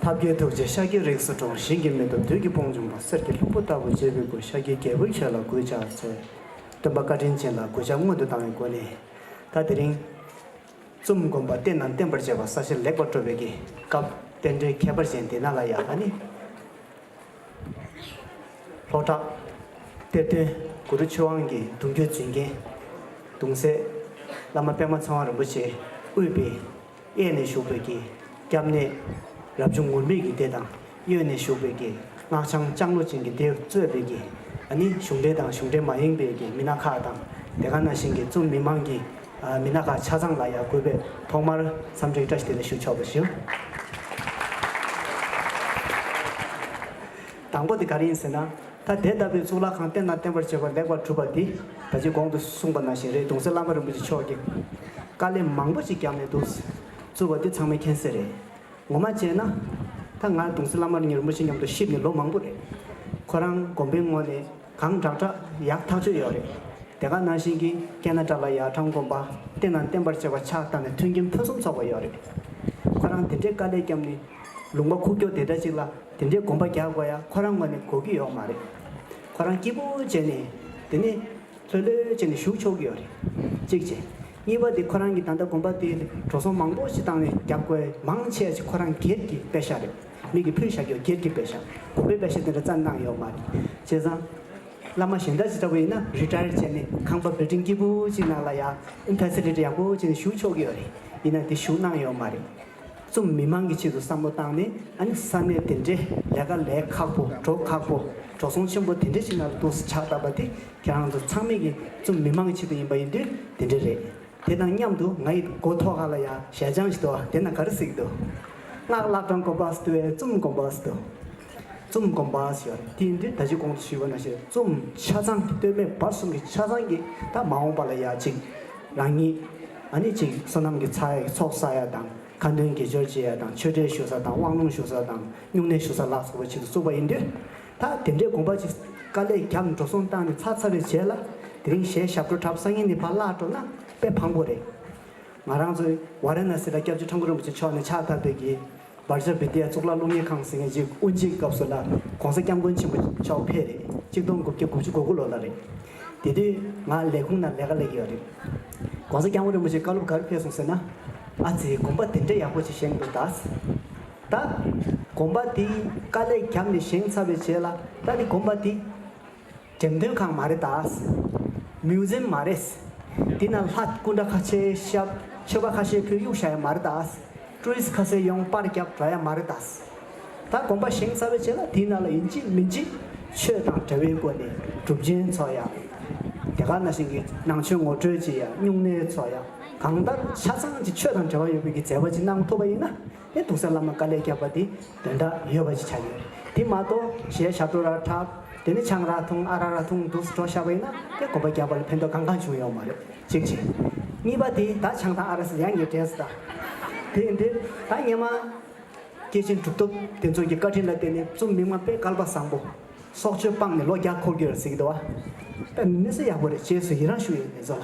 ཐབས་མཁས་ཐུགས་རྗེ་ཤཱཀྱའི་རིགས་སུ་འགྲོ་བ་ཞིང་གི་མེ་ཏོག་དུས་ཀྱི་དཔུང་འབྱུང་བ་གསེར་གྱི་ལྷུག་པོ་ལྟ་བུ་གཅེར་བུའི་སྐུ་ཤཱཀྱའི་རྒྱལ་པོའི་ཆོས་ལ་གུས་ཕྱག་འཚལ། སྟོན་པ་བཀའ་དྲིན་ཅན་ལ་གུས་ཕྱག་སྔོན་དུ་བཏང་བའི་སྒོ་ནས། ད་དེ་རིང། རྩོམ་སྒོམ་པ་བསྟན་དང་བསྟན་པར་བྱས་པ་ས་ཆ་ལེགས་པར་སྤྲོ་བའི་གི་སྐབས་རྟེན་འབྲེལ་ཁྱད་པར་ཅན་དེ་ན་ལ་ཡ་ཨ་ནི། ལྷོ་བྲག། གཏེར་སྟོན་གུ་རུ་ཆོས་དབང་གི་གདུང་རྒྱུད་འཛིན་མཁན། གདུང་སྲས། བླ་མ་པདྨ་ཚེ་དབང་རིན་པོ་ཆེ་དབུས་པདྨའི་གཡས་ནས་བཞུགས་པའི་གི་སྐྱབས་གནས། རབ་བྱུང་ངུར་སྨྲིག་གི་སྡེ་དང། གཡོན་ནས་ཞུགས་པའི་རྒྱན། སྔགས་འཆང་ལྕང་ལོ་ཅན་གྱི་ལྡེའུ་གཙོས་པའི་རྒྱན། ནི་གཞུང་འགྲེལ་དང་གཞུང་འགྲེལ་མ་ཡེངས་པའི་རྒྱན་མི་སྣ་ཁག་དང་དེ་ག་ན་བཞིན་གྱི་རྩོམ་མི་མང་གིས་མི་སྣ་ཁག་ཆ་ཚང་ལ་ཡང་གུས་པས་ཐོག་མར་འཚམས་འདྲི་བཀྲ་ཤིས་བདེ་ལེགས་ཞུ་ཆོག་པ་བཞིན། དང་པོ་དེ་ག་རེ་ཡིན་ཟེར་ན། ད་དེ་ལྟ་བུའི་གཙུག་ལག་ཁང་བསྟན་དང་བསྟན་པར་བྱེད་པ་ལེགས་པར་གྲུབ་པ་འདི་ད་ཅིའི་དགོངས་དུ་གསུངས་པ་ན་བཞིན་རེད་འདུག་སེ་བླ་མ་རིན་པོ་ཆེ་མཆོག་གིས་དཀའ་ལས་མང་པོ་ཞིག་བརྒྱབ་ནས་འདུག། བཙུར་བ་འདི་ཚང་མའི་མཁྱེན་གསལ་རེད། ངོ་མ་བྱས་ན། ད་ང་དུང་སི་བླ་མར་ཉེར་མོ་ཞིག་མཉམ་དུ་གཤིབ་ནས་ལོ་མང་པོ་རེད། ཁོ་རང་གོམ་པའི་སྔོན་ནས་གང་དྲག་དྲག་ཡག་ཐག་ཆོད་ཡོད་རེད། དེ་ག་ནང་བཞིན་གྱི་ཀན་ན་ཀྲ་ལ་ཡག་གྲངས་གོམ་པ་བརྟེན་ན་བརྟན་པར་བྱས་པ་ཆགས་བཏང་ནས་མཐུན་རྐྱེན་ཕུན་སུམ་ཚོགས་པ་ཡོད་རེད། ཁོ་རང་དེ་འདྲའི་དཀའ་ལས་བརྒྱབ་ནས་ལུང་པ་ཁུག་ཀྱོག་དེ་འདྲ་ཞིག་ལ་དེ་འདྲའི་གོམ་པ་རྒྱག་དགོས་ཡ་ཁོ་རང་ངོ་ནས་གོ་གི་ཡོག་མ་རེད། ཁོ་རང་སྐྱིད་པོ་བྱས་ནས་དེ་ནས་ལྷོད་ལྷོད་བྱས་ནས་བཞུགས་ཆོག་གི་ཡོད་རེད། གཅིག་བྱས། གཉིས་པ་དེ་ཁོ་རང་གི་ད་ལྟ་དགོན་པ་དེའི་འགྲོ་སོང་མང་པོ་ཞིག་བཏང་བའི་རྒྱབ་སྐོར་མང་ཆེ་བ་ཞིག་ཁོ་རང་སྒེར་གྱི་དཔེ་ཤག་རེད་མིག་གིས་ཕུལ་བཞག་རྒྱུ་སྒེར་གྱི་དཔེ་ཤག་དགོན་པའི་དཔེ་ཤག་དེ་འདྲ་རྩ་གནང་ཡོད་མ་རེད་བྱས་ཙང། བླ་མ་གཞན་དག་ཅི་ལྟ་བུ་ཡིན་ན Retire བྱས་ནས་ཁང་པ Building སྐྱིད་པོ་ཅིག་ནང་ལ་ཡང Facility ཡག་པོ་ཅིག་ནས་བཞུགས་ཆོག་གི་ཡོད་རེད་ཡིན་ན་དེ་བཞུགས་གནང་ཡོད་མ་རེད། གསུམ་མི་མང་གི་ཆེད་དུ་བསམ་བློ་བཏང་ནས་ཨ་ནི་ས་གནས་དེ་འདྲའི་ལས་ཀ་ལས་ཁག་པོ་འགྲོ་ཁག་པོ་འགྲོ་སོང་ཆེན་པོ་དེ་འདྲ་ཞིག་ནང་ལ་འདུག་ཆགས་གདའ་བ་དེ་ཁྱེད་རང་ཚོ་ཚང་མིག་གི་རྩོམ་མི་མང་གི་ཆེད་དུ་ཡིན་པ་ཡིན་དུས་དེ་འདྲ་རེད། དེ་དང་མཉམ་དུ་ང་ཡི་མགོ་ཐོག་ཁ་ལ་ཡང་ཞལ་བྱང་ཞིག་དོ་དེ་ན་ག་རེ་གཟིགས་འདུག། སྔགས་བཀླག་གྲངས་གོམས་པ་ཟདུ་བས་རྩོམ་གོམས་པ་ཟདུ། རྩོམ་གོམས་པ་ཞེས་པ་ནི་དེ་ཡིན་དུས་ད་ཅི་གོང་དུ་ཞུས་པ་ན་ཞེས་རྩོམ་ཆ་ཚང་གི་སྟོད་སྨད་བར་གསུམ་གྱི་ཆ་ཚང་གི་དང་མ་འོངས་པ་ལ་ཡ་གཅིག་རང་ཉིད་ཨ་ནི་གཅིག་བསོད་ནམས་ཀྱི་ཚ་ཡ་ཚོགས་བསགས་ཡ་དང་ཁ་འདོན་དགེ་སྦྱོར་བྱེད་ཡ་དང་ཆོས་འབྲེལ་ཞུ་ས་དང་དབང་ལུང་ཞུ་ས་དང་སྨྱུང་གནས་ཞུ་ས་ལ་སོགས་པའི་ཆེད་དུ་བཙུགས་པ་ཡིན་དུས། ད་དེ་འདྲའི་དགོངས་པ་ཅིག་དཀའ་ལས་བརྒྱབ་འགྲོ་སོང་བཏང་ནས་ཚར་ཚར་རེ་བྱས་ལ་དེ་རིང་གཞས་ཞབས་བྲོ་འཁྲབ་སང་ཉིན་ནས་ཕར་བརླག་འགྲོ་ན་དཔེ་ཕངས་པོ་རེད། ང་རང་ཚོའི་ཝཱ་ར་ན་སི་ལ་སྐྱབས་རྗེ་ཁྲོམ་ཀུ་རིན་པོ་ཆེ་མཆོག་ནས་ཕྱག་བཏབ་པའི་གྱི་སྦར་ཇཱ་བི་དེ་ཡ་གཙུག་ལག་སློབ་གཉེར་ཁང་ཟེར་མཁན་ཅིག་དབུ་འབྱེད་སྐབས་སུ་ལ ྋགོང་ས་སྐྱབས་མགོན་ཆེན་པོ་མཆོག་ཕེབས་རེད་གཅིག་སྟོང་དགུ་བརྒྱ་དགུ་བཅུ་གོ་དགུ་ལོ་ལ་རེད། དེ་དུས་ང་ལས་ཁུངས་ན་ལས་ཀ་ལས་ཀྱི་ཡོད་རེད། ྋགོང་ས་སྐྱབས་མགོན་རིན་པོ་ཆེ་བཀའ་སློབ་ག་རེ་ཕེབས་སོང་ཟེར་ན། ཨ་ཙི་དགོངས་པ་དེ་འདྲ་ཡག་པོ་ཅིག་བཞེས་མི་འདུག་གདའ། ད། གོམ་པ་འདི་དཀའ་ལས་བརྒྱབ་ནས་བཞེངས་ཚར་བའི་རྗེས་ལ་ད་ནི་གོམ་པ་འདི། འགྲེམས་སྟོན་ཁང་མ་རེད་ད། Museum། མ་རེད། འདི་ན་ལྷ་སྐུ་འདྲ་ཁ་ཤས་ཤབ། མཆོད་པ་ཁ་ཤས་ཕུལ་གཡུག་བྱ་ཡ་མ་རེད་ད། Tourist། ཁ་ཟས་ཡོང་སྤར་བརྒྱབ་འདྲ་ཡ་མ་རེད་ད། ད་གོམ་པ་བཞེངས་ཚར་བའི་རྗེས་ལ་དེའི་ནང་ལ་ཡིན་གཅིག་མིན་གཅིག། ཆོས་དང་འབྲེལ་བའི་སྒོ་ནས་གྲུབ་ཆེན་ཚོགས་ཡ། དེ་ག་ན་ཞིག་གི་ནང་ཆོས་ངོ་སྤྲོད་བྱེད་ཡ་སྨྱུང་གནས་ཚོགས་ཡ། གང་ལྟར་ཆ་ཚང་གཅིག་ཆོས་དང་འབྲེལ་བ་ཡོད་པའི་གི་མཛད་པ་གཅིག་གནང་ཐུབ་པ་ཡིན་ན་ནས་དུང་ས་བླ་མ་དཀའ་ལས་རྒྱག་པ་འདི་དོན་དག་ཡོད་པ་ཅིག་ཆགས་ཡོད་དེ་མ་གཏོགས་གཞས་ཞབས་བྲོ་ར་བྲག་དེ་ནས་ཆང་རག་འཐུང་ཨ་རག་ར་འཐུང་འདུག་བྲོ་ཞབས་ཡིན་ན་དེ་གོ་བ་རྒྱག་པ་ལ་ཕན་ཐོག་གང་གང་བྱུང་ཡོད་མ་རེད་གཅིག་གཅིག་གཉིས་པ་དེ་ད་ཆང་དང་ཨ་རག་ཡ་ངའི་འདྲེས་ད་དེ་འདི་ད་ངེད་མ་སྐྱེས་ཆེན་གྲུབ་ཐོབ་དེ་ཚོ་གི་བཀའ་དྲིན་ལ་བརྟེན་ནས་རྩོམ་མི་མང་པས་སྐལ་པ་བཟང་པོ་སྲོག་གཅོད་སྤངས་ནས་ལོ་བརྒྱ་འཁོར་རྒྱུ་རེད་ཟེར་གི་འདུག་བ། དཔེ་མི་སྲིད་ཡག་པོ་རེད་བཅས་སུ་ཡི་རང་ཞུ་ཡོད་ངེད་ཚོ་ལ།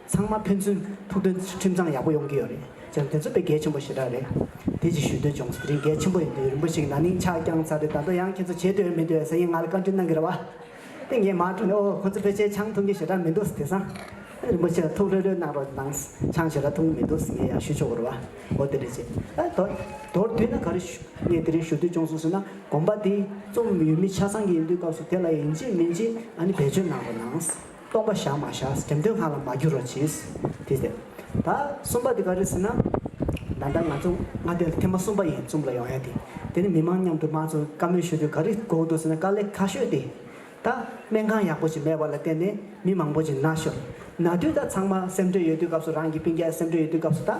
ཚང་མ་ཕན་ཚུན་ཐུགས་འདོད་ཁྲིམས་གཙང་ཡག་པོ་ཡོང་གི་ཡོད་རེད་བྱས་ན་དེ་ཚོ་དཔེ་གལ་ཆེན་པོ་ཞེ་དྲག་རེད། དེ་ཅིག་ཞུ་འདོད་བྱུང་ཟེར་རིན་གལ་ཆེན་པོ་ཡིན་འདུག་རིན་པོ་ཆེ་གི་ན་ནིང་ཕྱག་བརྐྱངས་ཚར་ཏེ་ད་དུང་ཡང་ཁྱེད་ཚོ་བྱེད་འདོད་ཡོད་མི་འདོད་ཡོད་ཟེར་གྱིན་ང་ལ་བཀའ་འདྲིན་གནང་གི་རེད་བ། དེ་ངས་མར་དྲོ་ནས་ཨོ་ཁོ་ཚོ་ཕལ་ཆེར་ཆང་འཐུང་གི་ཞེ་དྲག་མི་འདུག་དེ་སང། རིན་པོ་ཆེ་ལ་ཐུགས་ལྷོད་ལྷོད་གནང་རོགས་གནང། ཆང་ཞེ་དྲག་འཐུང་གི་མི་འདུག་ཟེར་ངས་ཡང་ཞུ་ཆོག་གི་རེད་བ། ཨོ་དེ་རེད་བྱས། ཨ་དོ། དོར་བསྡུས་ན་ག་རེ་ཞུ། ངས་དེ་རིང་ཞུ་འདོད་བྱུང་སོང་ཟེར་ན་དགོངས་པ་དེ། རྩོམ་ཡོད་མི་ཆ་ཚང་གི་ཡིན་དུས་སྐབས་སུ་དེ་ལ་ཡིན་གཅིག་མིན་གཅིག་ཨ་ནི་བེད་སྤྱོད་གནང་རོགས་གནང། སྟོང་པ་བཞག་མ་བཞག་དགེ་འདུན་ལྷག་ལ་མ་འགྱུར་རོ་གྱིས། དེ་སྟེ། ད་གསུམ་པ་འདི་ག་རེད་ཟེར་ན། ད་ལྟ་ང་ཚོ་སྔ་དོན་ཐེངས་མ་གསུམ་པ་ཡིན་རྩོམ་ལ་ཡོང་ཡ་དེ། དེ་ནི་མི་མང་མཉམ་དུ་མང་གཙོ་བཀའ་མོལ་ཞུ་དུས་ག་རེ་གོ་འདུག་ཟེར་ན་དཀའ་ལས་ཁ་ཤོས་ཏེ། ད་སྨན་ཁང་ཡག་པོ་ཞིག་མེད་པ་ལ་བརྟེན་ནས་མི་མང་པོ་ཞིག་ན་ཤོར། ན་དུས་ད་ཚང་མ་སེམས་འདྲོད་ཡོད་དུས་སྐབས་སུ་རང་གི་སྤུན་རྒྱལ་སེམས་འདྲོད་ཡོད་དུས་སྐབས་སུ་ད།